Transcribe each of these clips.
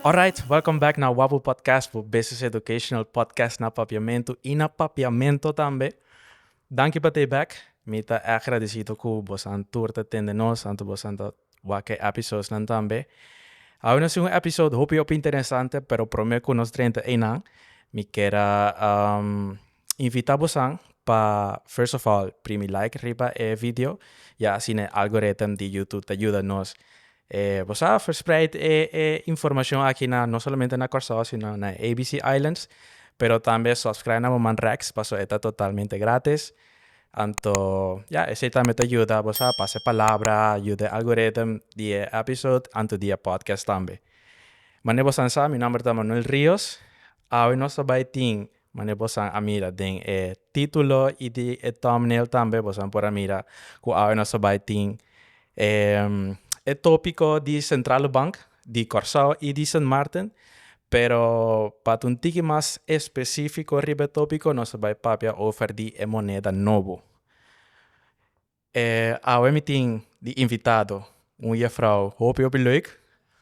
Alright, welcome back na Wapu Podcast, bo business educational podcast na Papiamentu i na Papiamento tambe. Danki pa tei bek. Mi ta èg gradisido ku bosan tur ta tende nos, anto bosan ta wak e episodsnan tambe. Awe nos tin un episod hopi hopi interesante, pero prome ku nos drenta einan mi ker a invitá bosan pa first of all primi like riba e video i asina e algoritm di youtube ta yuda nos e bo sa verspreid e e informashon aki na no solamente na Kòrsou sino na e ABC islands, pero tambe subscribe na bo man rèks pasobra e ta totalmente gratis. Anto ya esei tambe ta yuda bo sa pasa e palabra yuda e algorithm di e episode anto di e podcast tambe. Mane bosan sa mi nomber ta Manuel Rios, awe nos ta bai tin mane bosan a mira den e titulo y di e thumbnail tambe bosan por a mira cu awe nos ta bai tin e topico di Centrale Bank di Kòrsou i di Sint Maarten, pero pa ta un tiki mas espesífiko riba e tópiko nos ta bai papia over di e moneda nobo. E awe mi tin di invitado un yefrou hopi hopi leuk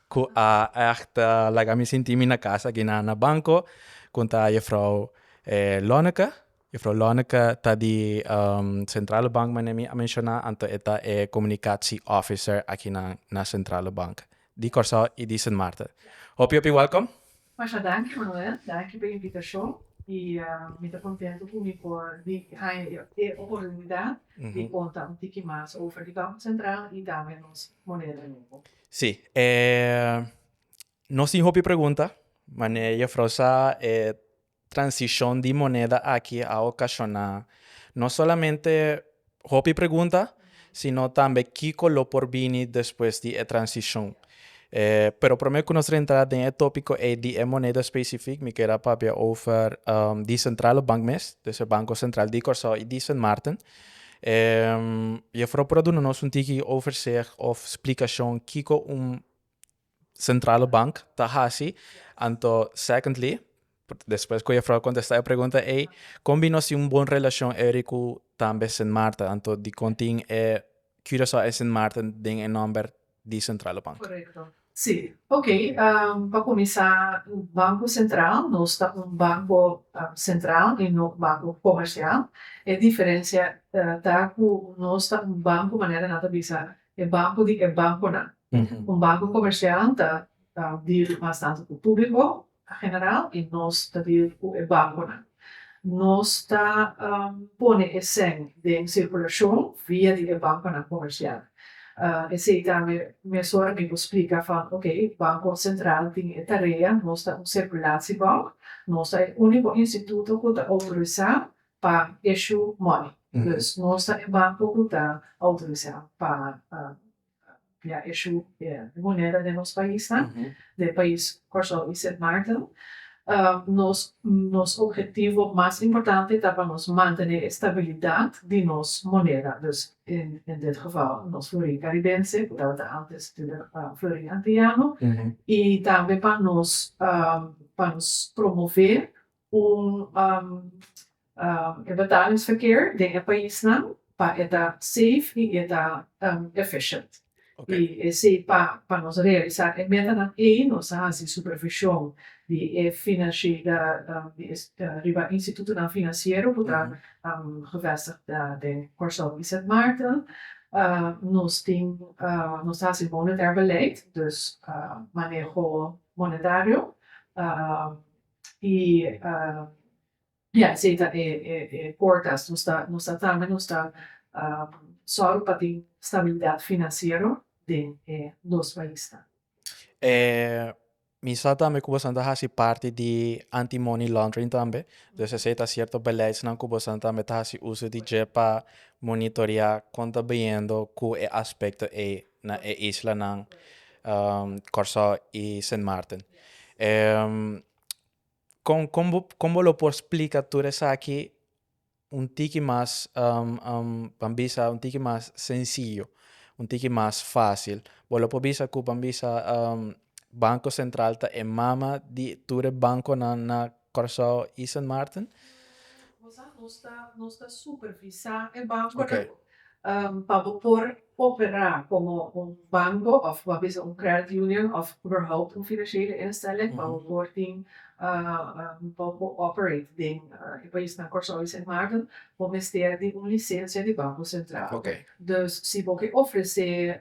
ku a ègt laga mi sinti mi na kasa aki na Banco, ku ta yefrou Lonneke. Juffrouw Lonneke ta di Centrale Bank manera mi a menciona anto e ta e comunicatie officer aki na Centrale Bank di Corsou y di Sint Maarten. Hopi hopi welkom. Masha danki Manuel, danki pa e invitacion y mi ta contento cu mi por di haya e oportunidad di conta un tiki mas over di Banco Central y tambe nos moneda nuevo. Si, nos tin hopi pregunta, mane juffrouw sa e Transishon di moneda aki a okashoná no solamente hopi pregunta, sino tambe kiko lo por bini despues di e transishon. Pero promé ku nos rentrá den e tópiko ei di e moneda spesifik, mi keda papia over di Sentrale Bank mes, des e Banko Sentral di Kòrsou i di Sint Maarten. Jèfrou por a duna nos un tiki overzicht òf splikashon kiko un Centrale Bank ta hasi, anto secondly despues cu Jefrouw contesta e pregunta ey con bino si un bon relacion eri cu tambe Sint Maarten anto dicon tin e Curaçao en Sint Maarten den e nomber di Centrale Bank. Correcto si ok pa cuminsa Banco Centraal nos ta un banco centraal y no banco comercial e diferencia ta cu nos ta un banco manera nan ta bisa E banku di e bankunan. Un banku komersial ta diri mas tantu ku públiko na general i nos ta diri ku e bankunan. Nos ta pone e sèn den sirkulashon via di e bankunan komersial. Esei ta mesun ora mi por splika van ok, Banko Sentral tin e tarea, nos ta un sirkulashiebank, nos ta e úniko instituto ku ta outorisá pa ishu money dus nos ta e banko ku ta outorisá pa mira ishu e moneda den nos paisnan den pais Kòrsou i Sint Maarten nos nos ophetivo mas importante ta pa nos mantené e stabilidat di nos moneda dus en en dit geval nos florin karibense ku tabata antes florin antiyano i tambe pa nos pa nos promovee Ku e betalingsverkeer den e paisnan pa e ta safe i e ta efficient. I esei pa nos realisá e metanan ei nos a hasi supervishon di e finansiega riba e institutonan finansiero ku ta gevestigd den Kòrsou i Sint Maarten. Nos tin nos ta hasi monetair beleid, dus maneho monetario, y ya esey ta e portas nos ta nos ta tama y nos ta sòru pa tin stabilidad financiero den e dos paisnan. Mi sa tambe cu boso ta haci parti di anti money laundering tambe, dus esey ta cierto beleidsnan cu boso tambe ta haci uso di dje pa monitorea con ta bayendo cu e aspecto ey. na e islanan Kòrsou i Sint Maarten. Kon kon bo kon bo lo por splika tur esaki un tiki mas pan bisa un tiki mas sensiyo, un tiki mas fásil? Bo lo por bisa ku pan bisa Banko Sentral ta e mama di tur e bankonan na Curaçao y Sint Maarten. Nos ta supervisa e banconan pa bo por opera como un banco of bo a bisa un credit union of iberhoupt un financiële instelling pa bo por tin pa bo por operate den e paisnan Curaçao y Sint Maarten bo mester di un licencia di banco central. Dus si bo ke ofrece.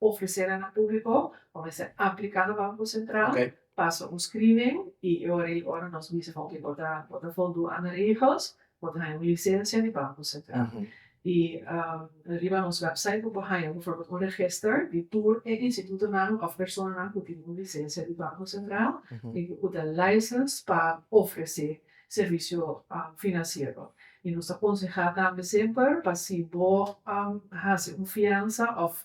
Ofresé nan na públiko o mester apliká na Banko Sentral pasa un screening i e ora i ora nos bisa bon ke bo ta bo ta voldu ana regels bo ta haña un lisensia di Banko Sentral i riba nos wèpsait bo por haña bifòrbild un regester di tur e institutonan òf personanan ku tin un lisensia di Banko Sentral i ku ta licensed pa ofresé servisio finansiero. I nos ta konsehá tambe semper pa si bo a hasi un fiansa òf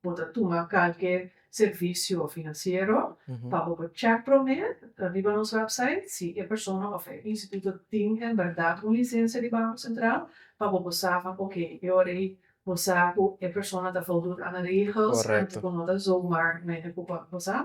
bo ta tuma kalke servisio finansiero, pa bo por chèk promé riba nos wèpsait si e persona òf e instituto tin en bèrdat un lisensia di Banko Sentral, pa bo por sa van oke, e ora ei bo sa ku e persona ta voldoen aan de regels, anto bo no ta zomaar mene ku bo a kusa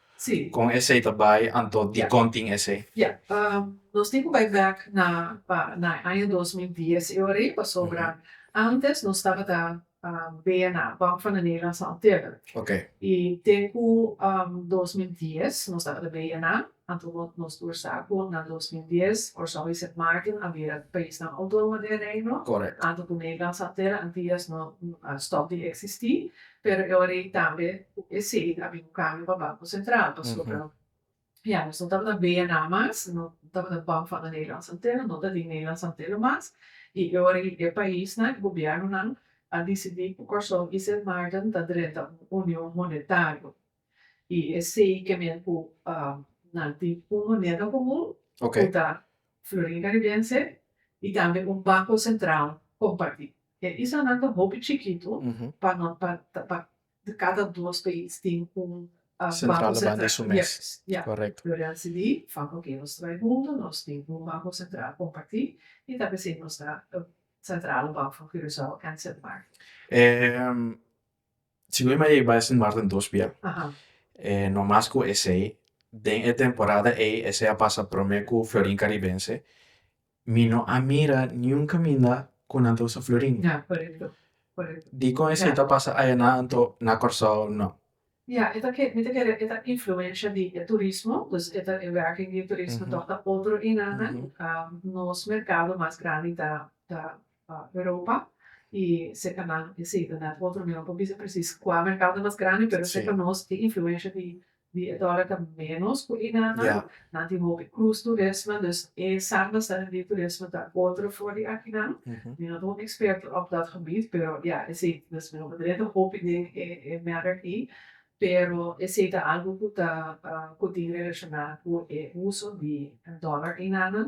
Kon esei ta bai anto dikon tin esei? Ya. Nos tin ku bai bek na pa na e aña dos mil dies i ora ei pasobra antes nos tabata bea na Bank van de Nederland San Otilda i te ku dos mil dies nos tabata bea nan anto nos tur sa ku na dos mil dies Orson wee Sint Maarten a bira paisnan outonomo den Reino anto ku Nederland San Otilda Antillas no a stòp di eksistí Pero e ora ei tambe cu e cee a bin cambia pa Banco Central, pasobra ya nos no tabata bea nada mas, no tabata ban van de Nederlandse Antillen, no ta di Nederlandse Antillen mas, y e ora ei e paisnan, e gobiernonan a dicidi cu Corsou y Sint Maarten ta drenta un union monetario y e cee ke men cu nan tin un moneda comun cu ta Florin Caribense y tambe un Banco Central comparti. E islanan ta hopi chikitu pa no pa pa di kada dos pais tin un banko sentral yes ya lo desidí fama oke nos trai huntu nos tin un banko sentral kompartí i ta p'esei nos ta sentrale bank van Curaçao en Sint Maarten. si bo bai bai Sint Maarten dos bia e no mas ku esei den e temporada ei esei a pasa prome ku Florin Caribense Mi no a mira niun caminda cu nan ta usa florin. Dicon esey ta pasa aya na anto na Corsou? No. Ya, e ta kere, mi ta kere e ta influencia di e turismo, dus e ta e werking di e turismo, tok ta otro enan nan, nos mercado mas grandi ta ta. pa europa y seca na esey ta na otro mercado no por bisa precies cua mercado ta mas grandi pero seca nos tin influencia di e dollar ta menos cu e nan nan nan tin hopi cruz turismo dus e samba sa den di turismo ta otro for di aki nan mi no ta un experto op dat gebied pero ya esey mi no ta drenta hopi den e merk ey pero esey ta algo cu ta cu tin relaciona cu e uso di dollar ey nan nan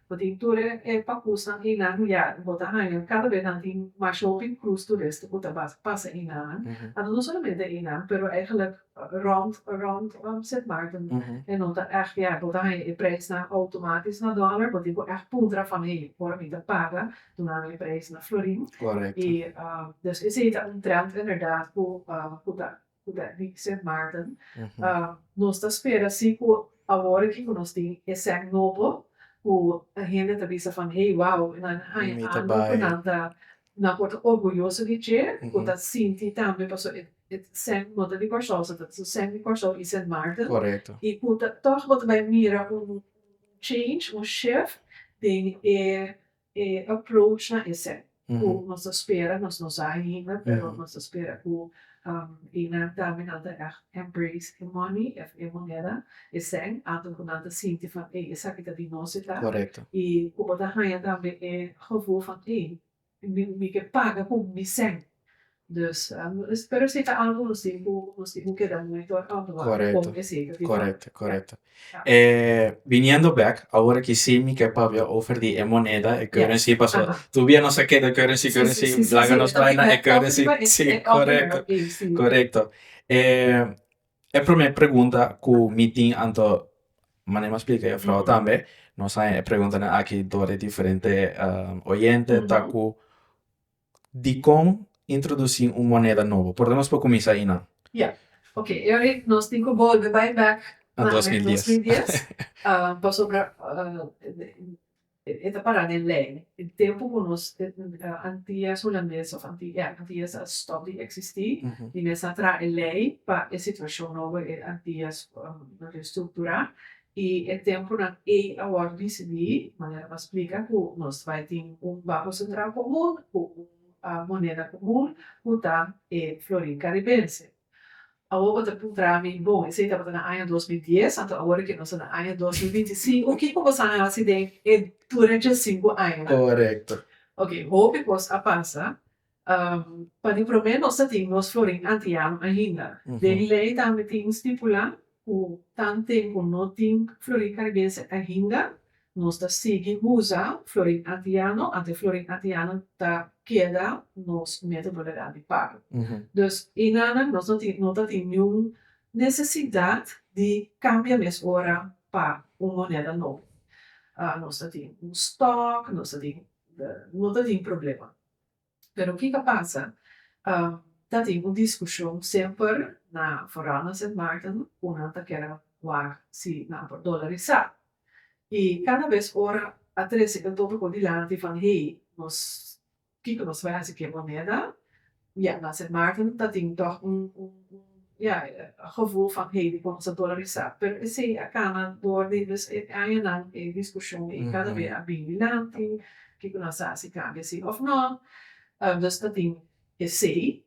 Bo tin tur e papusnan einan ku ya bo ta haña, kada bes nan tin mas hopi krus turista ku ta basa pasa einan, anto no solamente einan pero eigenlijk rond rond Sint Maarten e no ta ègt ya bo ta haña e preisnan outomatis na dòler, bo tin ku ègt puntra van hey ora mi ta paga duna mi e preis na florin i dus esei ta un trènt inderdaad ku ku ta ku ta Nixon Martin. Nos ta spera si ku awor aki ku nos tin e sèk nobo ku hende ta bisa van hey wow e nan haña algu ku nan ta nan por ta orguyoso di dje ku ta sinti tambe paso e sèk no ta di Kòrsou so ta su sèk di Kòrsou i Sint Maarten i ku ta tòg bo ta bai mira un change un shift den e E approach na esei ku nos ta spera, nos no sa ainda, pero nos ta spera ku e nan tambe nan ta ègt embrace e money of e moneda esei anto ku nan ta sinti van ei esaki ta di nos e ta i ku bo ta haña tambe e gevoel van ei mi ke paga ku mi sèn. Dus spero si ta algu hosin ku hosin ku keda monitor autuado Correcto, con e seker di Correcto, Banta. correcto. Ja. Eh, viniendo back, awor aki sí mi ke papia over di e moneda, e currency, paso Aha. tur bia nos a keda currency, Sí, sí, currency, sí, sí, laga sí, nos bai na e elke currency. elke Sí, elke elke correcto, elke elke sí. correcto. Eh, e primer pregunta ku mi tin anto Maneman a splica e jufrouw tambe, nos a haña e preguntanan aki door e diferente oyente, ta ku, Dikon introdusí un moneda nobo? Por ta nos pa kuminsá einan? Ya. Oke, e ora ei nos tin ku bolbe bai bèk na dos mil dies. Na dos mil dies. Pasobra e ta pará den lei. E tempu ku nos Antias Hulandes òf ya, Antias a stòp di eksistí i mester traha e lei pa e situashon nobo e Antias restrukturá I e tempunan ei a wòrdu disidí manera pa splika ku nos bai tin un Banko Sentral Komun ku un moneda komun ku ta e florin karibense. Awor bo ta puntra mi, bon, esei tabata na aña dos mil dies, anto awor ke nos ta na aña dos mil binti sinku, kiko bo sa a hasi den e durante e sinku añanan? Korekto. Oke, hopi kos a pasa, Pa di promé nos ta tin nos florin antiano ainda. Den di lei tambe tin stipulá ku tan tempu no tin florin karibense ainda, nos ta sigui usa florin antiano ante florin antiano ta keda nos metodo legal di pago. Dus e nana nos no tin no ta tin niun nesesidat di kambia mes ora pa un moneda nobo. Nos ta tin un stòk, nos ta tin no ta tin problema. Pero kiko a pasa? Ta tin un diskushon semper na foral na Sint Maarten ku nan ta kere wak si nan por dolarisá. I kada bes ora a trese kantotu por dilanti van hei nos kiko nos bai hasi ku e moneda? Ya, na Sint Maarten ta tin tòg un Ya e gevoel van Heidi por nos a dolarisá, pero esei a kana dor di mes e añanan e diskushon i kada be a bini dilanti kiko nan sa si kambia si òf nò. Dus ta tin esei.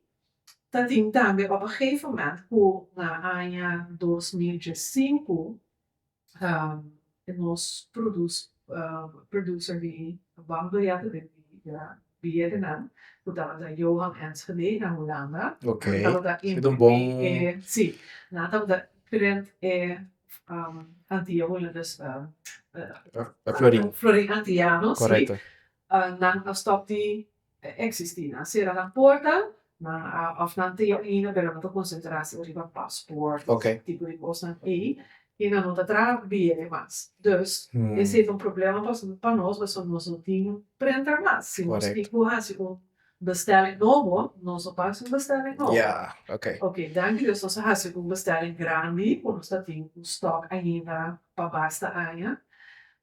Ta tin tambe op e gefe moment ku na aña dos mil dje sinku nos producer di banda beyette den biyetenan cu tabata Johan Enschede na Hulanda nan tabata imprimi nan tabata imprint e antia hulandes florin antianos nan a stop di ta existi. Nan sera nan porta of nan ta ya ainda pero nan ta concentra si riba paspoort y ese tipo di cosnan ey y nan no ta traha bere mas dus ese ta un problema pa nos pasobra nos no tin printer mas si nos tin cu haci un bestelling nobo nos lo basi un bestelling nobo ok danki dios nos a haci un bestelling grandi cu nos ta tin un stock ainda pa basta aña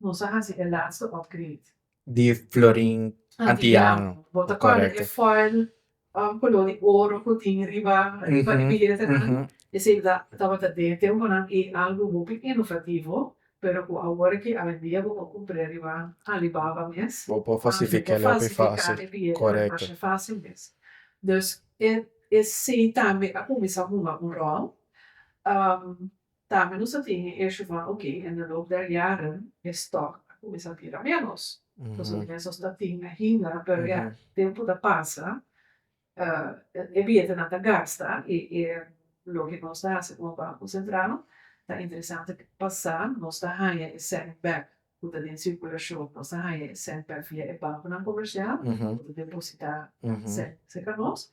Nos a hasi e laatste upgrade. Di florin antiano. Bo ta kòrda e foil koló di oro ku tin riba riba e bilete nan? Esei ta tabata den tempunan i algu hopi inovativo, pero ku awor ki awendia bo por kumpr'é riba Alibaba mes. Bo por falsifik'é hopi fásil. Korekto. Masha fásil mes. Dus esei tambe a kuminsá hunga un ròl. Tambe nos a tin e hecho van oke en de loop der jaren e stock a cuminsa bira menos, pasobra nos mester sta tin ainda, pero ya tempo ta pasa e billetenan ta gasta y e loke nos ta haci como Banco Central ta interesante cu pasa nos ta haña e cent back cu ta den circulacion, nos ta haña e cent back via e banconan comercial cu ta deposita cent seca nos.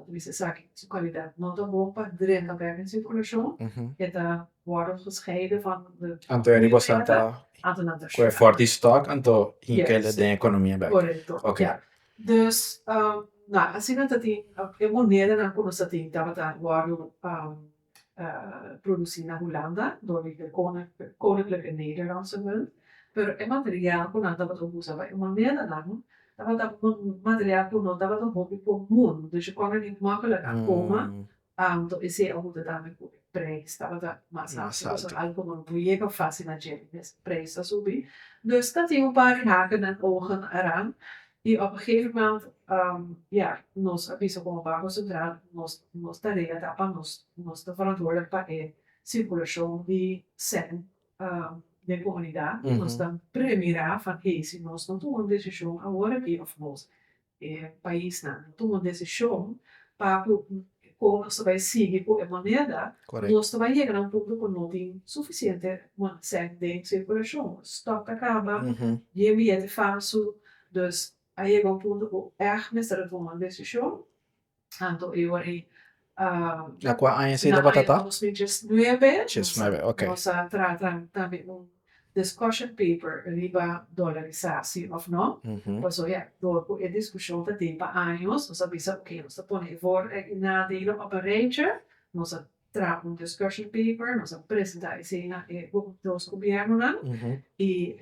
ta mester sa ki su kalidat no ta bon pa drenta bek den sirkulashon, e ta wòrdu gescheide van de biopleta, anto nan ta shona. Korekto, ya. Dus, asina ta tin e monedanan ku nos ta tin tabata wòrdu. produsí na Hulanda dor di e Koninklijke Nederlandse Munt, pero e material ku nan tabata usa pa e monedanan tabata material ku no tabata hopi komun, dus e kòrda di mòkkelek a koma anto i esei a hunta tambe ku e preis tabata mas altu, kos ta altu ku no yega fasil na djere mes preis ta subi, dus ta tin un par di hakenan ogen aran I op e gegeven moment ya nos a bisa como Banco Central nos nos tarea ta pa nos nos ta verantwoordelijk pa e circulacion di cent den comunidad y nos ta premira van hey si nos no tuma un decision aworaki'of nos e paisnan no tuma un decision pa cu E kon nos ta bai sigui ku e moneda, nos ta bai yega na un punto ku no tin sufisiente sèn den sirkulashon. Stòk ta kaba, bien billete falsu. Dus a yega un punto ku èg mester a tuma un desishon. Anto e ora ei na aña nos mintjes nuebe nos a trata tambe un discussion paper riba dolarisasi òf no. Paso ya dor ku e diskushon ta den pa años nos a bisa oke nos ta pone e vor e nadelen òp en reitje, nos a traha un discussion paper, nos a presentá esei na e dos gobièrnunan i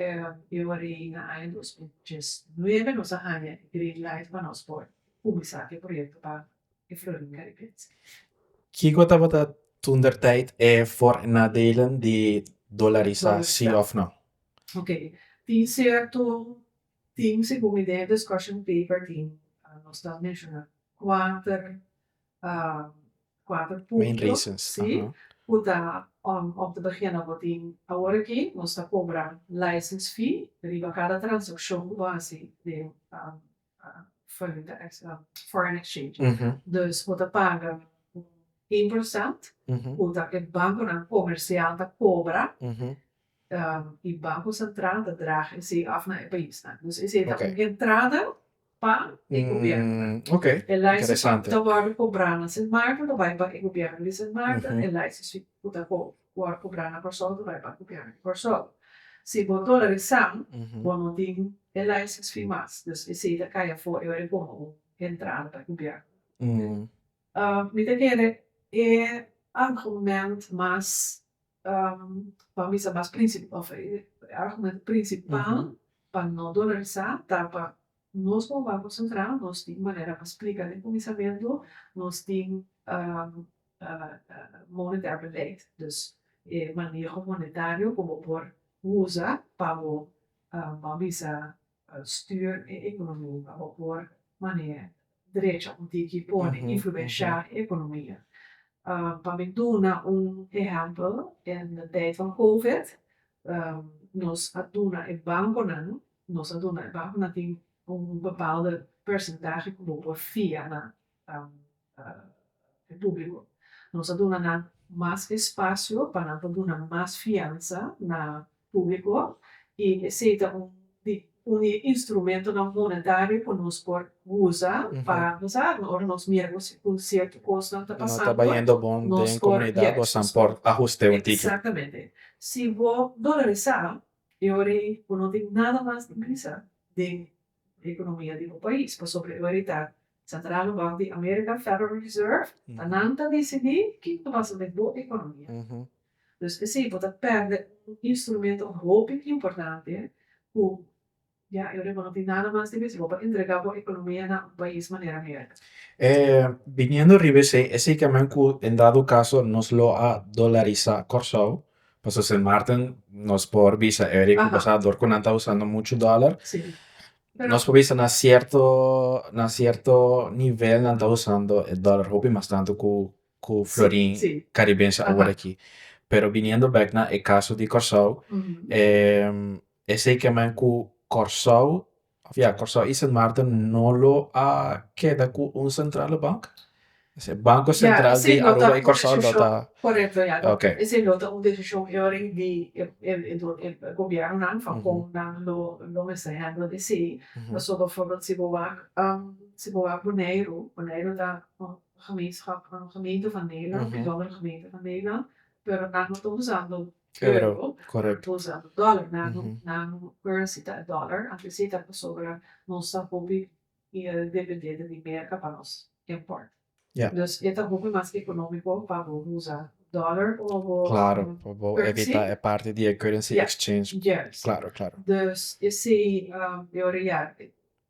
e wòrei na aña dos mil diesnuebe nos a haña e green light pa nos por kuminsá e proyektonan Kiko tabata toentertijd e voor en nadelen di dolarisasie of no? Ok, tin cierto tin segun mi den e discussion paper tin nos ta menciona cuater cuater punto si cu ta om om ta begena bo tin awor aki nos ta cobra license fee riba cada transaccion cu bo haci den valuta extra, foreign exchange, dus bo ta paga un procent cu ta e banconan comercial ta cobra y Banco Central ta draga esey af na e paisnan. Dus esey ta un entrada pa e gobiernonan. E license cu ta wordo cobra na Sint Maarten ta bay pa e gobierno di Sint Maarten, e license fee cu ta cobra. ku a kubrá na Kòrsou ta bai pa kupiá den Kòrsou. Si bo ta ora di sam, bo no tin e laisens fin mas, dus esei ta kai afó e ora e pon un entrada pa kupiá. Mi ta kere e argument mas, pa bisa mas princip, òf e argument principal pa no ta ora di sam ta pa Nos por wak nos entrá, nos tin manera pa splika den kuminsamentu, nos tin monetair beleid, dus e maneho monetario ku bo por usa pa bo bo a bisa stuur e ekonomia, pa bo por mane drecha un tiki pone influenshá e ekonomia. Pa mi duna un ehèmpel, den e tèid van covid nos a duna e bankonan Nos a duna e banco nan tin un bepaalde percentahe cu bo por fia na e publico. Nos a duna nan mas espacio pa nan por duna mas fiansa na publico y esey ta un di un di e instrumentonan monetario cu nos por uza pa bo sa ora nos mira cu cu cierto cosnan ta pasando. No ta bayendo bon den comunidad bo sa por ahuste un tiki. Exactamente. Si bo dolarisa E ora ei bo no tin nada mas di bisa den economia di bo pais, pasobra e ora ei ta sandrado baho di American Federal Reserve, ta nan ta dicidi kin ta pasa den bo economia. Dus así bo ta perde un instrumento hopi importante cu Ya Europa no tin nada mas di misibo pa entrega bo economia na un pais manera America. E biniendo riba esey, esey camen cu en dado caso nos lo a dolarisa Corsou, pasobra Sint Maarten nos por bisa eri cu cosa dor cu nan ta usando mucho dolar, nos por bisa na cierto, na cierto nivel nan ta usando e dolar hopi mas tanto cu. ku Florin Karibense aworakí. Pero biniendo bèk na e kaso di Kòrsou, esei ke men ku Kòrsou, òf ya, Kòrsou i Sint Maarten no lo a keda ku un sentrale bank? Esei Banko Sentral di Aruba i Kòrsou lo ta. Korekto, ya. Ok. Esei lo ta un desishon yoring di e gobièrnunan van kon nan lo mester hèndel esei. Pasobra, bòrbo si bo wak, si bo wak Boneiru, Boneiru ta Gemeenschap van gemeenten van Nederland en Dobber Gemeente van Nederland pero nan no ta usando euro nan ta usando dollar nan currency ta e dollar anto esei ta pasobra nos ta hopi mier dependiente di Merka pa nos import dus e ta hopi mas economico pa bo usa dollar o bo currency yes dus esei yo real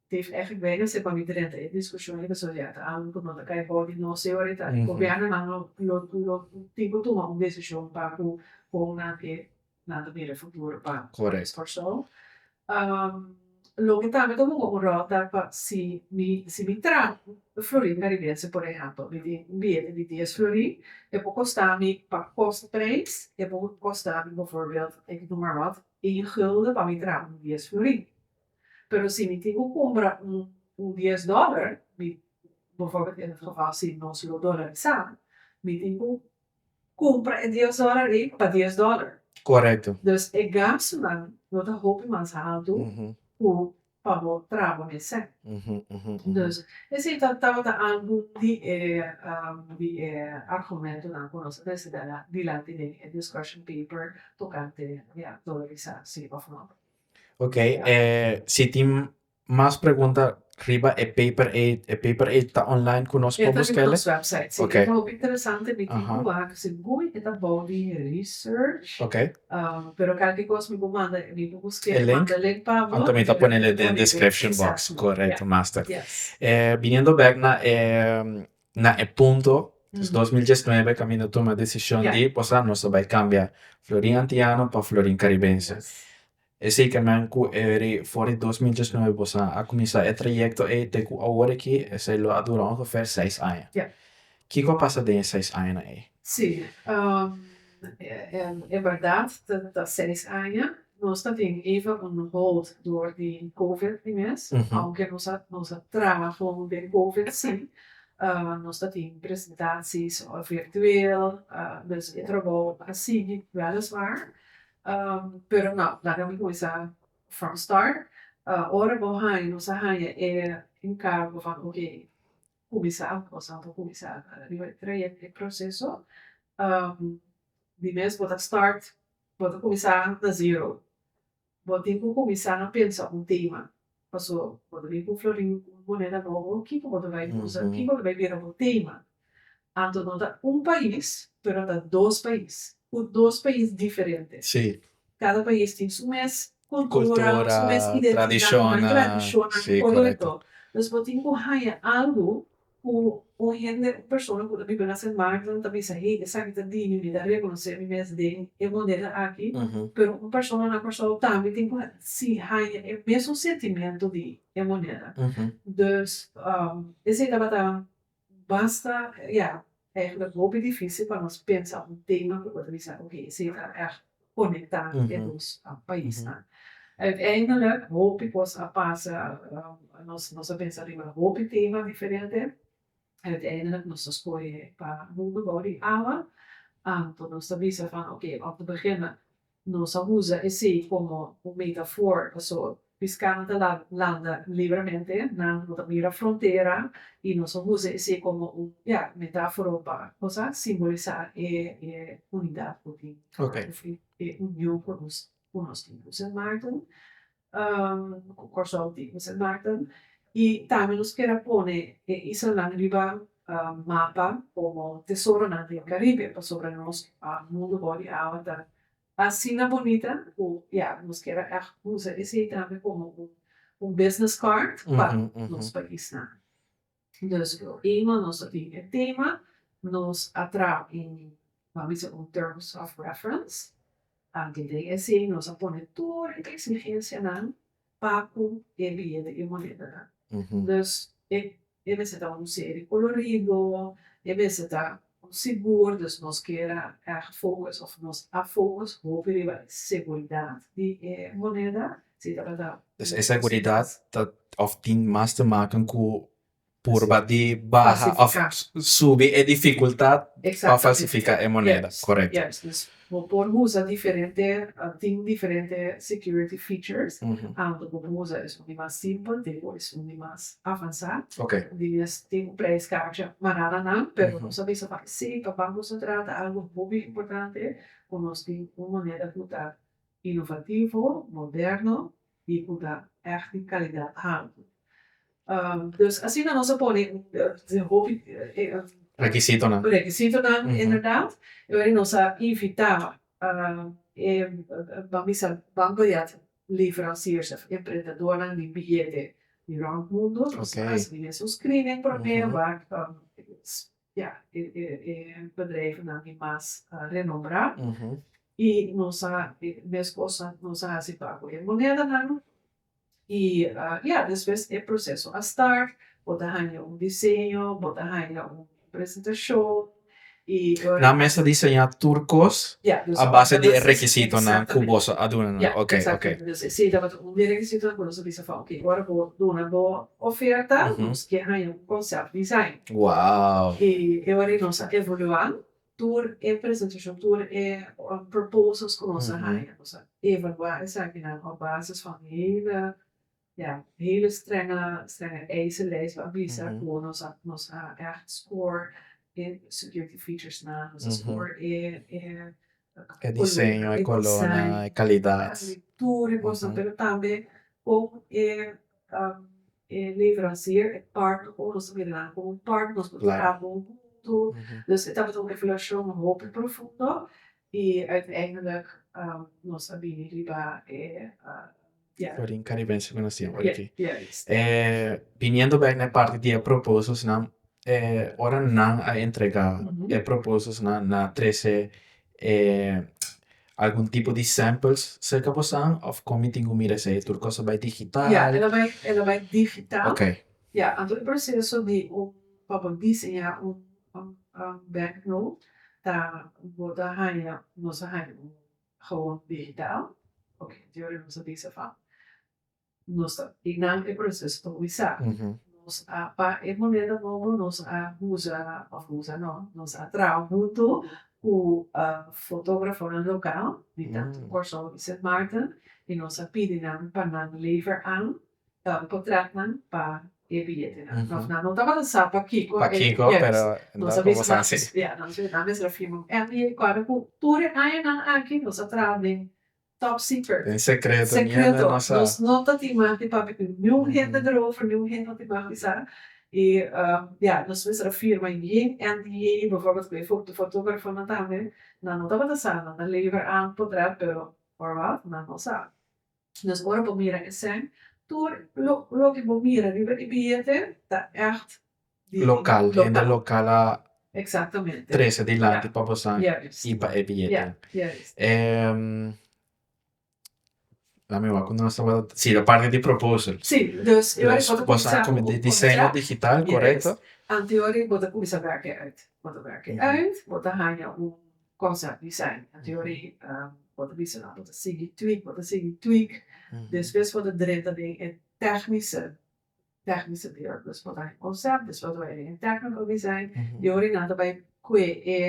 Dave F. Gwenese pa mi drenta e diskushon ebe so yata aun ku no ta kai for di nos teoritanan. Gobièrnunan lo lo lo tin ku tuma un desishon pa ku kon nan ke nan ta mira e futuro pa nos Kòrsou. Loke tambe ta hunga un ròl ta pa si mi si mi traha Florin Karibense por ehèmpel mi tin un billete di dies florin e por kosta mi pa kos prijs e por kosta mi befòrbild ik noem maar wat één gulden pa mi traha un dies florin. Pero si mi tin cu cumpra un dies dollar, mi nos lo dollarisá, mi tin cu cumpra e dies dollar ei pa dies dollar. Corecto. Dus e gastunan no ta hopi mas haltu cu pa bo traba mester. Dus esey tabata algu di e argumentonan cu nos a presenta dilanti den e discussion paper tocante dollarisá si of not. Ok si tin mas pregunta riba e paper ei e paper ei ta online ku nos por buskele ok ok e link anto mi ta ponele den description box korekto master biniendo bek na e. na e punto des dos mil diesnuebe kaminda a tuma desishon di posa nos ta bai kambia florin antiano pa florin karibense esei ke men ku eri for di dos mil diesnuebe bosa a kuminsá e trayekto ei te ku awor aki esei lo a dura ongefer seis aña kiko a pasa den e seis añanan ei? Nos ta tin even un hold dor di covid di mes, aunke nos a nos a traha con den covid si, nos ta tin presentaties virtueel, dus e trabou a sigui weliswaar, pero nau laga mi cuminsa from start, ora bo haña nos a haña e encargo van oké cuminsa nos a por cuminsa riba e trayecto e proceso di mes bo ta start Bo ta kuminsá na zero. Bo tin ku kuminsá pensa un tema. Paso bo ta bin ku floriu ku un moneda nobo, kiko bo ta bai usa? Kiko bo ta bai bira bo tema? Anto no ta un pais, pero ta dos pais, ku dos pais diferente. Kada pais tin su mes kultura, su mes identidat, su mes tradishonnan, kòrèkto? Entonces bo tin ku haña algu Ku un hende, un persona ku ta biba na Sen Martin ta bisa, Hey, esaki ta di mi, mi ta rekonosé mi mes den e moneda aki. Pero un persona na Kòrsou tambe tin ku hasi haña e mesun sentimentu di e moneda. Dus, esei tabata basta, ya, Èg ta hopi difísil pa nos pensa un tema ku por ta bisa oke esei ta èg konektá e dos paisnan. Uiteindelik hopi kos a pasa, nos a pensa riba hopi tema diferente, uiteindelik nos a skohe pa mundu bou di awa, anto nos ta bisa van oke òf ti biginnan Nos a usa esei komo un metafor, paso piskánan ta landa libremente, nan no ta mira frontera, i nos a usa esei komo un, ya, metáforo pa kos a simbolisá e unidat ku tin, òf e union ku nos tin. Ku Sint Maarten ku Kòrsou tin ku Sint Maarten i tambe nos kier a pone e islanan riba mapa komo tesoronan di e Karibe pasobra nos mundu bou di awa ta asina bonita ku ya nos kier a ègt usa esei tambe komo un business card pa nos paisnan. Dus e tema, nos a tin e tema, nos a traha un a bisa un terms of reference, antes den esei nos a pone tur e eksigensianan pa ku e bieda e monedanan. Dus e mester ta un seri kolorido, e mester ta Bo sigur dus nos keda èg fokus òf nos a fokus hopi riba e seguridat di e moneda? Si tabata un E seguridat ta òf tin mas te maken ku purba di baha òf subi e difikultat pa falsifiká e moneda, korekto. Bo por usa diferente, tin diferente security features tanto bo por usa esun di mas simpel te ku esun di mas avansá. Di mes tin un preis kacha manana nan, pero nos a bisa pa e sey pa banko sentral ta algu hopi importante ku nos tin un moneda ku ta inovativo, moderno y cu ta echt di calidad haltu. Dus asina nos a pone den hopi requisitonan inderdaad y awor nos a invita e ban bisa banco di at leveranciers of emprendedornan di billete di round mundo nos a haci un screening primero wak Ya, e bedrijfnan di mas renombrá i nos a meskos nos a hasi pa ku e monedanan. I ya, despues e proseso a start, bo ta haña un diseño, bo ta haña un presentashon i loke. Nan mes ta diseñá tur kos a base di e rekisitonan ku boso a dunanan. Oke, oke. Exactamente. Entonces, si tabata un di e rekisitonan ku nos a bisa, oke, ora bo duna bo Oferta, nos ke haña un concept design. Wow! E awor nos a evolua tur e presentacion, tur e proposals cu nos a haña. Nos a evalua esakinan op basis van hele, ya, hele strenga, strenga eisen, lijst a bisa cu nos a, nos a echt score e security featuresnan, nos a score e E diseño, e colornan, e calidad. Así tur e cosnan pero tambe con e e leverancier e partner con nos ta mira nan como un partner nos por traha bon hunto dus e tabata un evaluacion hopi profundo y uiteindelijk nos a bini riba e. Forin caribense cu nacia por aki. Biniendo bek na e parti di e propósitonan, ora nan a entrega e propósitonan nan a trece algun tipo di samples cerca bosan of con mi tin cu mira esey? Tur cos a bay digital? Ya, el a bay, el a bay digital. Ok. Ya, anto e proceso di un, pa bo diseña un banknote ta bo ta haya, nos a haya un. Gewoon digitaal, ok anterior nos a bisa van nos ta binan e proceso ta wisa nos a pa e moneda nobo nos a usa of usa no nos a traha hunto cu fotografonan local di tanto Corsou y Sint Maarten y nos a pidi nan pa nan lever aan ta potretnan pa e biyetenan nos nan no tabata sa pa kiko e yers nos a bisa nan ya nos a bisa nan mester a firma un NDA di acuerdo cu tur e añanan aki nos a traha den top secret den secreto secreto nos no ta tin maf di papia cu niun hende erover niun hende no tin maf di sa y ya nos mester a firma yin NDA beforbel cu e foto fotografonan tambe nan no tabata sa nan ta lever aun potret pero por wat nan no sa. Dus ora bo mira esèn, tur loke bo mira riba e billete ta ègt di lokal, hende lokal a trese dilanti pa boso i pa e billete. Dame wak, ku nos tabata, si e parti di proposal. Dus boso a kuminsá di diseño digital, korekto? Antes bo ta kuminsá wèk ei uit, bo ta wèk ei uit, bo ta haña un. cosa di esei anto yo regi bo ta bisa nan bo ta sigui tweak bo ta sigui tweak despues bo ta drenta den e tecnice tecnice di ora despues bo ta haña concept despues bo ta bai den e tecnical design y ora nan ta bai cue e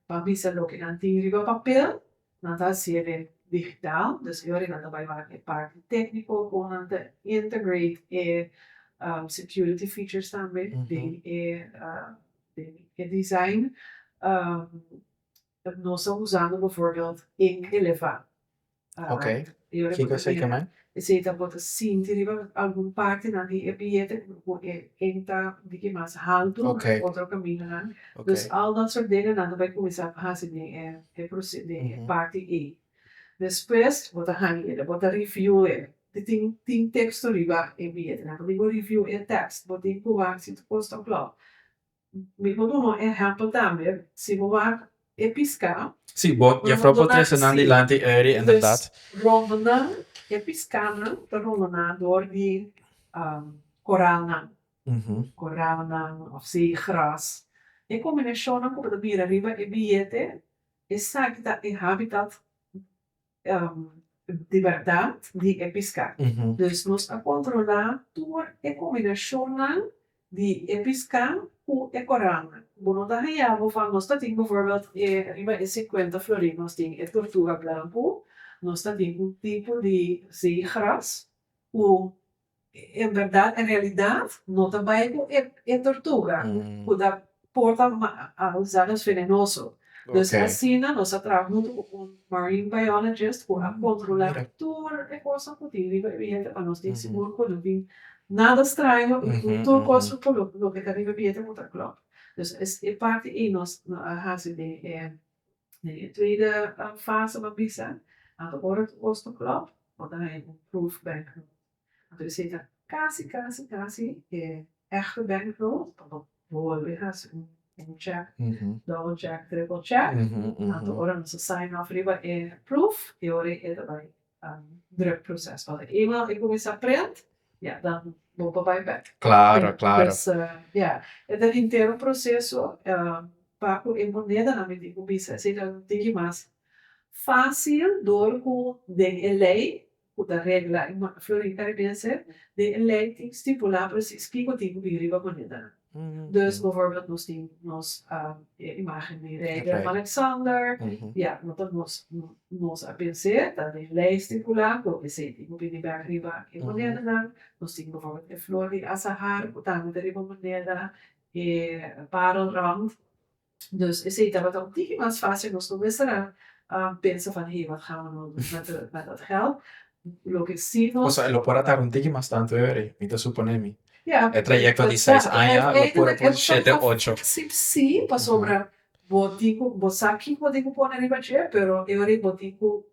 pa bisa loke nan tin riba papel nan ta haci'e den digital despues y ora nan ta bai wak e parti tecnico con nan ta integrate e security features tambe den e den e design nos ta usando bevoorbeeld ink eleva esey ta bo ta sinti riba algun partenan di e billete ku e ink ta un tiki mas haltu den otro kamingonan dus al dat soort dingenan ta bai kuminsá pa hasi den e den e parti ey despues bo ta haña ela bo ta review e Te tin tin teksto riba e billetnan. Por mi bo review e tekst, bo tin ku wak si tu kos ta klò. Mi por duna un ehèmpel tambe, si bo wak e piská. Sí, bo ta duna un así. Enderdat. Pues rondonan, e piskánan ta rondoná dor di koralnan, koralnan òf zeegràs. E kombinashonnan ku bo ta mira riba e billete, esaki ta e hábitat di bèrdat di e piská. Dus nos a kontrolá tur e kombinashonnan di e piská ku e korannan. Bo no ta hañá bo van nos ta tin befòrbèlt e riba e sinkuenta florin nos tin e tortuga blanku, nos ta tin un tipo di zeegras ku. En berdad en realidad no ta bay cu e tortuga cu ta porta gusanos venenoso. Dus asina nos a traha hunto cu un marine biologist cu a controla tur e cosa cu tin riba e billete pa nos tin sigur cu no tin nada straño y cu tur cosa cu loke ta riba e billete cu ta clop. Dus es e parti ey nos a haci den e Den e tweede fase bo bisa anto ora ku bos ta klop bo ta haña un proof bank note anto e seta kasi kasi kasi e echte bank note pa bo bolbe hasi un check double check triple check anto ora nos ta sign off riba e proof y ora e ta bai druk proces pa eenmaal e cuminsa prent ya dan bo pa bay bek pues ya e ta intero proceso pa cu e monedanan mi tin cu bisa eseyta no tin ki mas facil door cu den e ley cu ta regla e florin caribense den e ley tin stipula precies kico tin cu bin riba monedanan Dus bovorbeld nos tin nos e imágen di rei Willem-Alexander, ya, no ta nos, nos a pens'é ta den lèisti ku la ku esei tin ku bini bèk riba e monedanan. Nos tin bovorbeld e flor di asahar ku tambe ta riba moneda, e parelrand. Dus esei tabata un tiki mas fásil nos lo mester a pensa van hé, wat ga'an nou dun met dat gèld? Loke sí nos. Kos a lo por a tardá un tiki mas tantu every? Mi ta suponé mi. Ya. E trayekto di seis aña lo por a por shete ocho. Sip sí, pasobra bo tin ku bo sa kiko tin ku pone riba dje, pero every bo tin ku.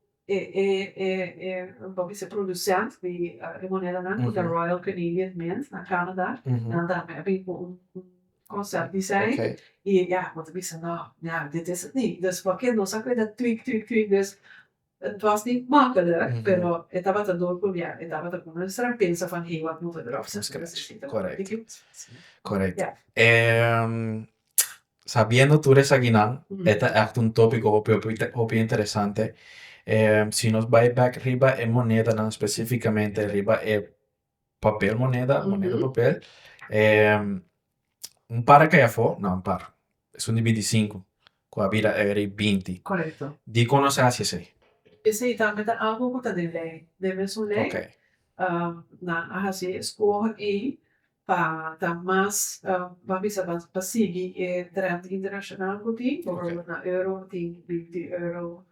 bo bisa e producent di e monedanan ku ta Royal Canadian Mint na Canada nan tambe a bini ku un concept design y ya bo ta bisa no ya dit is het niet dus por ke nos a kree dat tweak tweak tweak dus het was niet makkelijk pero e tabata dor ku ya e tabata ku nos a pensa van hey wak moe we drop something else sabiendo tur esaginan, e ta ègt un tópiko hopi hopi hopi interesante. si nos bai bèk riba e monedanan spesífikamente riba e papel moneda, moneda papel, un par a kai afó, nò un par, es un di binti sinku ku a bira eri binti. Korekto. Dikon nos a hasi esei? Esei tambe ta algu ku ta den lei, debe es un lei. Ok. nan a hasi e skuoh ei pa ta mas pa bisa pa sigui e trend internashonal ku tin por ejemplo na euro tin binti euro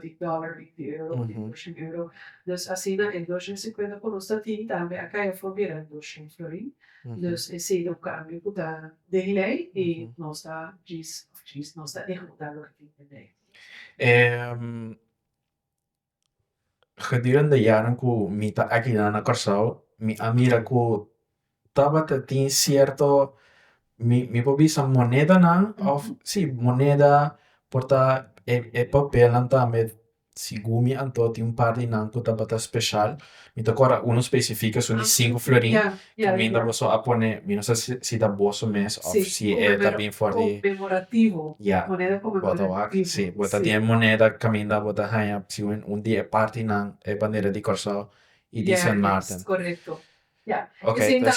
di dollar binti euro di doshen euro dus asina e doshen i sinkuenta ku nos ta tin tambe a kai afo bira doshen florin dus e sedu un kambio ku ta den lei i nos ta djis nos ta ehukuta loke tin den lei. Gedurende yanan ku mi ta akinan na Kòrsou, mi a mira ku tabata tin sierto mi mi por bisa monedanan òf sí moneda por ta e e papelnan tambe segun mi anto tin un par di nan ku tabata speshal. Mi ta kor a unu spesifiko esun di sinku florin ku minda boso a pone, mi no sa si ta boso mes òf si e ta bin for di, ya, bo ta wak, si, bo ta tin e moneda kaminda bo ta haña siwen un di e partinan e bandera di Kòrsou i di Sint Maarten. Ok, ta.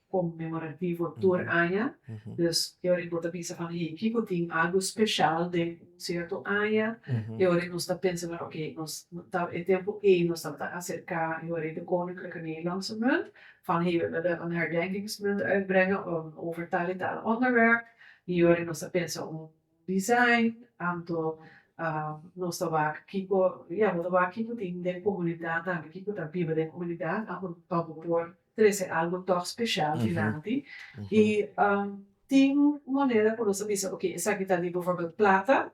conmemorativo tur aña, dus e ora bo ta bisa pa Hinkey cu tin algo special den un cierto aña, e ora nos ta pensa na ok, nos ta e tempo ey nos tabata acerca e ora ey de Koninklijke Nederlandse Munt, van he we willen een herdenkingsmunt uitbrengen over tal en tal onderwerp, y e ora nos ta pensa un design, anto nos ta wak kico, ya bo ta wak kico tin den comunidad tambe, kico ta biba den comunidad, anto pa bo por trese algo tòg speshal dilanti. I tin un moneda ku nos ta bisa oke esaki ta di bòforbèl plata,